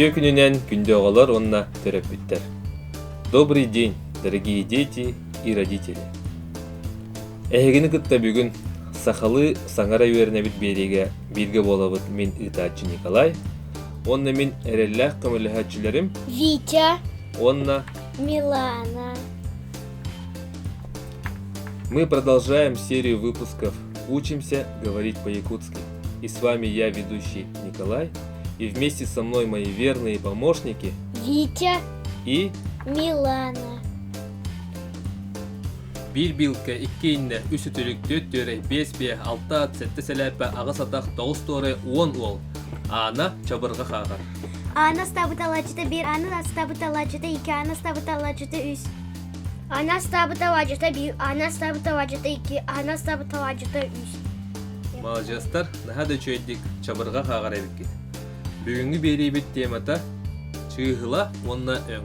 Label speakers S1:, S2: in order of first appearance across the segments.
S1: Үтүө күнүнэн күндү оҕолор уонна төрөппүттэр! Добрый день, дорогие дети и родители! Эһигини кытта бүгүн сахалыы саҥара үөрэнэбит биэриигэ бииргэ буолабыт мин ыытааччы Николай уонна мин эрэллээх көмөлөһөөччүлэрим Витя уонна Милана. Мы продолжаем серию выпусков «Учимся говорить по-якутски». И с вами я, ведущий Николай, и вместе со мной мои верные помощники Витя и Милана. Биир биилкэ, икки иннэ, үс үтүлүк, түөрт түөрэй, биэс биэс, алта ат, сэттэ сэлээппэ, аҕыс атах, тоҕус туорай, уон уол. Аана чабырҕа хааҕар. Аана астабыталааччыта биир, аана астабыталааччыта икки, аана астабыталааччыта үс. Аана астабыталааччыта биир, аана астабыталааччыта икки, аана астабыталааччыта үс. Маладьыастар, наһаа да үчүгэйдик чабырҕа хааҕар эбиккит. Бүгүҥҥү биэриибит темата чыыһыла уонна өҥ.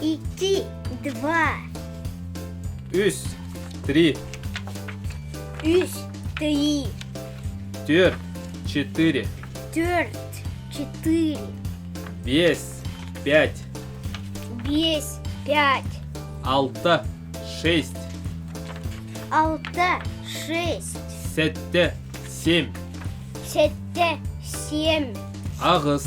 S1: Iki, два. Үс, три. Үс, три. Четыре, четыре. Четверть, четыре. Бес, пять. Бес, пять. Алта, шесть. Алта, шесть. Сетте, семь. Сетте, семь. Ағыс,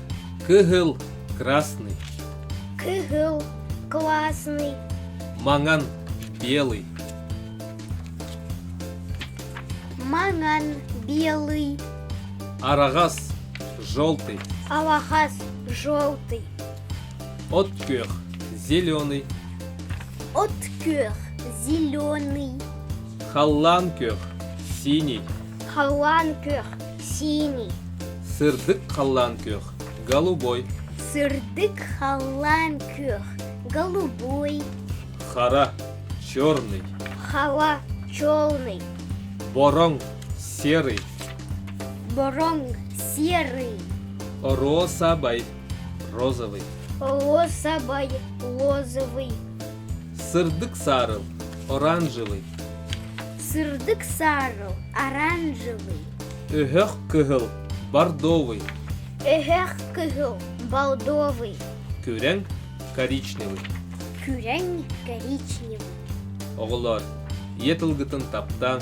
S1: Кыһыл – красный. Кыһыл – классный. Маҥан – белый. Маҥан – белый. Араҕас – желтый. Алахас – желтый. Откүөх – зеленый. Откүөх – зеленый. Халлаан күөх – синий. Халлаан күөх Синий. Сырдык халлаан күөх, голубой. Сырдык халлаан күөх, голубой. Хара, черный. Хава, черный. Бороҥ, серый. Бороҥ, серый. Розовый, розовый. Розовый, розовый. Сырдык саарыл, оранжевый. Сырдык саарыл, оранжевый. Өһөх кыһыл, бордовый. Өһөх кыһыл, бордовый. Күрэҥ, коричневый. Күрэҥ, коричневый. Оҕолор, ийэ тылгытын таптааҥ,